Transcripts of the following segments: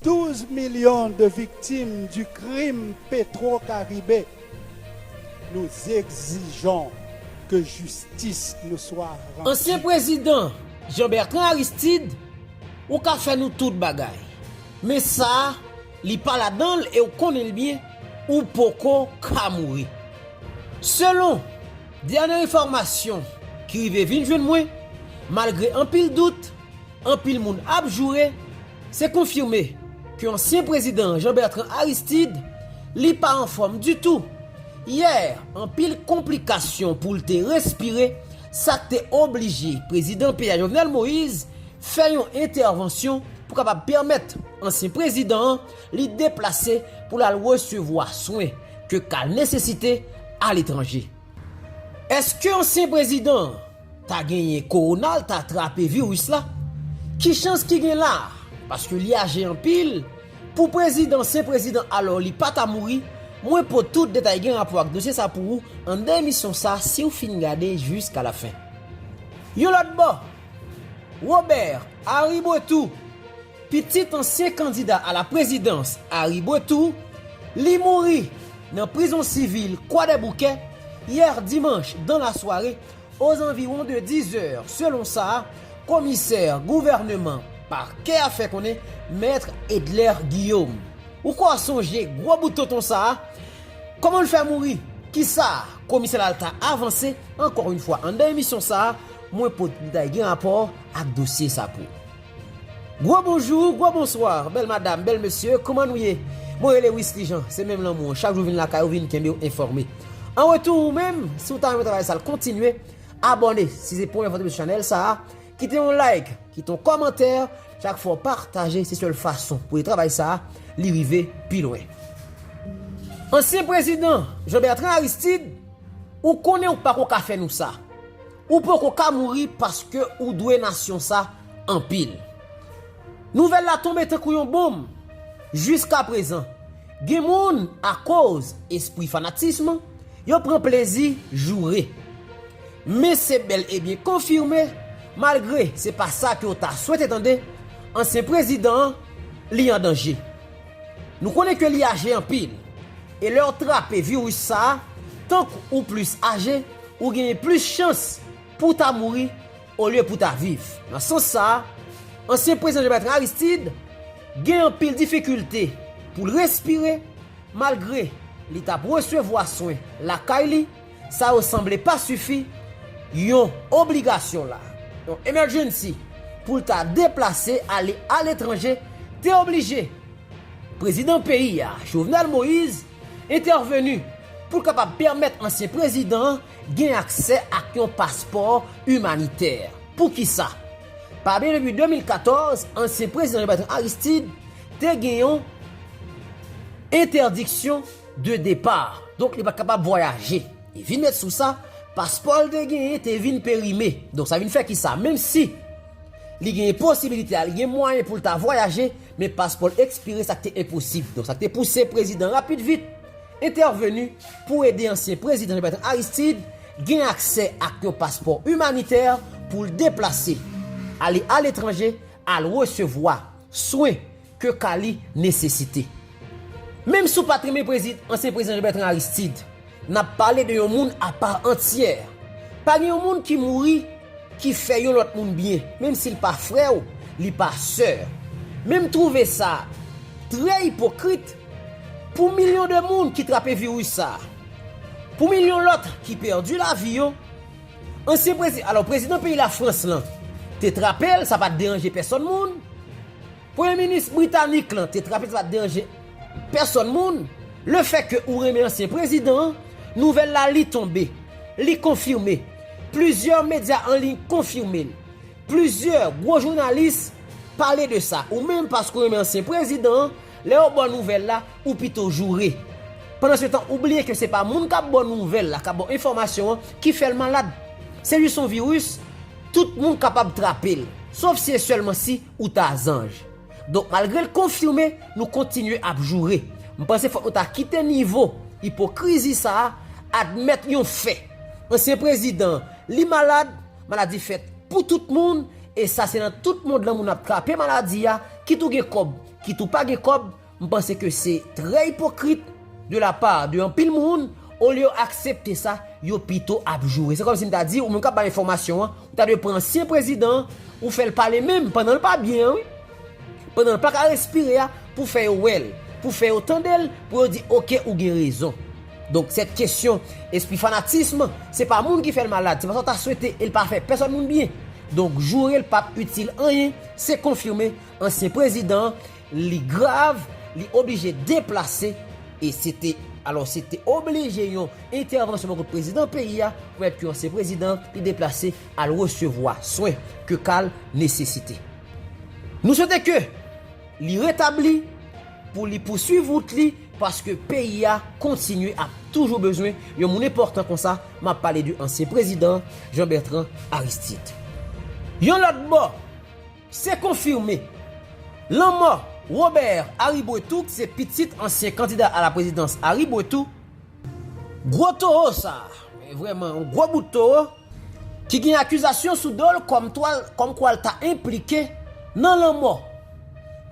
12 milyon de viktim du krim petro karibe nou egzijon ke jistis nou swa randu. Ansyen prezidan Jean Bertrand Aristide ou ka fè nou tout bagay men sa li pa ladanl e ou konnen l byen ou poko ka mouri selon dènye enfòmasyon ki rive vin jwenn mwen malgre anpil dout Anpil moun ap joure, se konfime ke ansyen prezidan an Jean Bertrand Aristide, li pa anfòm ditou. Yè, anpil konplikasyon pou l te respire, sa k te oblije prezidan peyi a Jovenel Moïse fè yon entèvansyon pou kapab pèmèt ansyen prezidan an li deplase pou l al resevwa swen ke ka nesesite aletranje. Eske ansyen prezidan an. ta genyen kowona l ta trape viris la ki chans ki gen la paske li aje anpil pou prezidan se prezidan alò li pa ta mouri mwen pot tout detay gen rapò ak dosye sa pou ou anndan emisyon sa siw fin gade jiska la fen yon lòt bò Robert Aribautour pitit ansyen kandida a la prezidans Aribautour li mouri nan prizon sivil kwadèboukè yè dimanch dan la sware. Ozanviwon de 10 zè, selon sa komisè gouvèneman pakè a fè konnen, Mèt Edler Guillaume. Ou kwè w ap sonje gwo bout tonton sa a? Kòman l fè mouri? Kisa komisè Lalta avanse? Ankò yon fwa anndan emisyon sa a, mwen pot detay gen rapò ak dosye sa pou. Gwo bonjou, gwo bonsoir, bèl madam, bèl mesye, kouman nou ye? Mwen rele Wisly Jean, se menm lanmou an, chak jou vin lakay ou vin kenbe w enfòme. An retou ou menm, si w ta renmen travay sa l kontinye, abòne si se premye fwa w tonbe sou chanèl sa a, kite yon like, kite yon kòmantè, chak fwa w pataje se sèl fason pou ede travay sa a li rive pi lwen. Ansyen prezidan Jean Bertrand Aristide, ou konnen ou pako ka fè nou sa. Ou poko ka mouri paske ou dwe nasyon sa anpil. Nouvèl la tonbe tankou yon bonm. Jiskaprezan, gen moun akoz espri fanatism, yo pran plezi joure. Men se bèl e byen konfime, malgre se pa sa ke w ta swete tande, ansyen prezidan an, li an danje. Nou konnen ke li aje anpil, e lè ou trape viris sa a, tank ou plis aje, ou genyen plis chans pou w ta mouri olye pou w ta viv. Nan sans sa a, ansyen prezidan Jean-Bertrand Aristide gen anpil difikilte pou l respire malgre li t ap resevwa swen lakay li. Sa yo sanble pa sifi, yon obligasyon la, yon emergency, pou l ta deplase ale aletranje te oblije Prezidan peyi a, Jovenel Moise, entèveni pou l kapab pèmèt ansyen prezidan an gen aksè ak yon paspò imanitè. Poukisa? Pa bliye depi 2014, ansyen prezidan Jean-Bertrand Aristide te gen yon entèdiksyon. de départ, donk li pa t kapab vwayaje. E vin met sou sa, paspò l te genyen te vin perime. Donk sa vin fè ki sa, menm si li genyen posibilite a, li gen mwayen pou l ta vwayaje, men paspò l ekspire sa k te enposib. Donk sa k te pouse prezidan rapid vit entèveni pou ede ansyen prezidan Jean-Bertrand Aristide gen aksè ak yon paspò imanitè pou l deplase, ale aletranje, al resevwa swen. ke ka li nesesite. Menm si w pat renmen prezidan ansyen prezidan Jean Bertrand Aristide, nap pale de yon moun a part entière. Pa gen yon moun ki mouri ki fè yon lòt moun byen, menm si l pa frè w, li pa sè w. Men m trouve sa trè ipokrit pou milyon de moun ki trape virus sa, pou milyon lòt ki pèdi lavi yo, ansyen prezidan, alò prezidan peyi la France lan te trape l, sa pat deranje pèsòn moun. Premye minis britanik lan te trape sa pat deranje pèsòn moun, le fè ke ou renmen ansyen prezidan an, nouvèl la li tonbe, li konfime, plizyè medya an liy konfime l, plizyè gwo jounalis pale de sa, ou menm paske ou renmen ansyen prezidan an, lè yo ba w nouvèl la, ou pito joure. Pandansetan ou bliye ke se pa moun kap ba w nouvèl la, kap ba w enfòmasyon an ki fè l malad. Se jis yon viris, tout moun kapab trape l, sof si e sèlman si Ou ta zanj. Donk malgre l konfime, nou kontinye ap joure. M panse fòk nou ta kite nivo ipokrizi sa a, admèt yon fè. Ansyen prezidan an, li malad, maladi fèt pou tout moun, e sa se nan tout mond lan moun ap trape maladi a, kit ou gen kòb, kit ou pa gen kòb, M panse ke se trè ipokrit de la part de anpil moun, olye yo aksepte sa, yo pito ap joure. Se kòm si m ta di ou menm k ap bay enfòmasyon an, ou ta dwe pran ansyen prezidan an, ou fè l pale menm pandan l pa byen an wi, pandan l pa ka respire a, pou fè yo wè l, pou fè yo tande l, pou yo di ok ou gen rezon. Donk sèt kesyon espri fanatism, se pa moun ki fè l malad, se pa sa w ta swete e l pa fè pèsòn moun byen. Donk joure l p ap itil anyen, se konfime ansyen prezidan an li grav, li oblije deplase, e se te, alò se te oblije yon entèvansyon bò kote prezidan peyi a, pou mèt ke ansyen prezidan an, li deplase al resevwa swen ke ka l nesesite. Nou swete ke li retabli, pou li pouswiv wout li, paske peyi a kontinye ap toujou bezwen yon moun enpòtan konsa, m ap pale de ansyen prezidan Jean Bertrand Aristide. Yon lòt bò, Se konfime! Lanmò Robert Aribretou ki se pitit ansyen kandida a la prezidans Aribretou, gwo towo sa a, vrèman yon gwo bout towo, ki gen akizasyon sou do l kòmkwa l ta enplike nan lanmò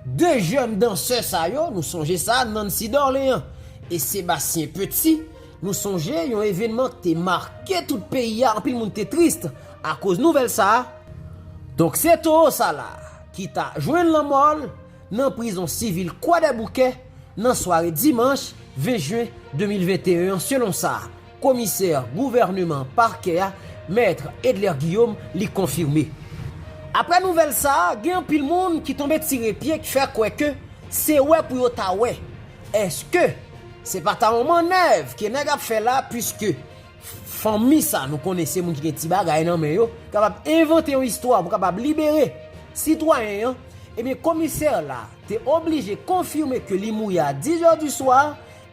2 jèn dansè sa yo, nou sonje sa, Nancy Dorlean e Sébastien Petit, Nou sonje yon evenman ki te make tout peyi a anpil moun te trist akoz nouvèl sa a. Donk se towo sa la ki ta jwenn lanmò l nan prizon sivil Kwadèboukè nan sware dimanch 20 jen 2021 an selon sa komisè gouvèneman pakè a mèt Edler Guillaume li konfime. Aprè nouvèl sa a gen anpil moun ki tonbe tire pye k fè kwè ke se wè pou yo ta wè Eske se pa ta yon manèv ke nèg ap fè la puiske fanmi sa nou konnen se moun ki gen ti bagay nan men yo kapab envante yon istwa pou kapab libere sitwayen an ebyen komisè la te oblije konfime ke li mouri a 10 zè di swa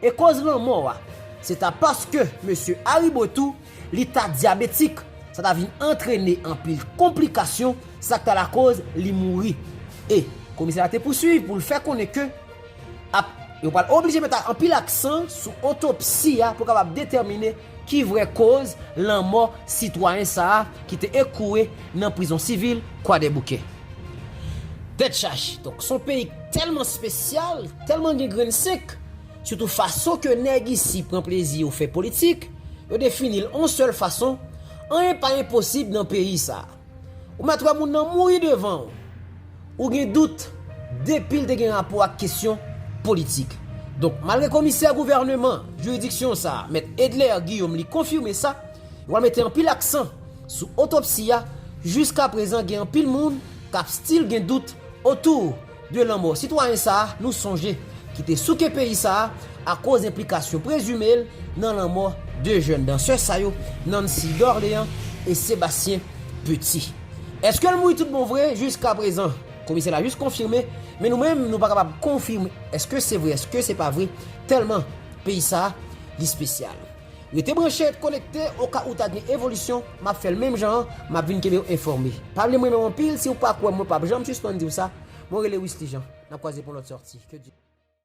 e koz lanmò a se ta paske mesye Aribo tou li ta dyabetik sa ta vin antrene anpil konplikasyon sa k ta lakoz li mouri e komisè la te pousuiv pou l fè konnen ke ap. Yo pral oblije met anpil aksan sou otopsi a pou kapab detèmine ki vrè koz lanmò sitwayen sa a ki te ekwoue nan prizon sivil Kwadèboukè. Tèt chaje! Donk son peyi k tèlman spesyal, tèlman gen grenn senk, sitou fason ke nèg isi pran plezi yo fè politik, yo defini l on sèl fason, anyen pa enposib nan peyi sa a. Ou mèt wè moun nan mouri devan ou. Ou gen dout, depi l te gen rapò ak kesyon politik. Donk, malgre komisè gouvèneman jiridiksyon sa a, mèt Edler Guillaume li konfime sa, yo pral mete anpil aksan sou otopsi a, jiskaprezan gen anpil moun k ap stil gen dout otou 2 lanmò sitwayen sa a nou sonje ki te souke peyi sa a akoz enplikasyon prezime l nan lanmò 2 jèn dansè sa yo, Nancy Dorlean e Sébastien Petit. Eske l mouri tout bon vre? Jiskaprezan, komisè la jis konfime, men nou menm nou pa kapab konfime eske se vre eske se pa vre tèlman peyi sa a li spesyal. Rete branche et konekte oka ou ta gen evolisyon map fèl menm jan an map vin kenbew enfòme pavle mrenmenw anpil siw pa kwèm mwen pap janm sispann diw sa mwen rele Wisly Jean nap kwaze pou lòt sòti.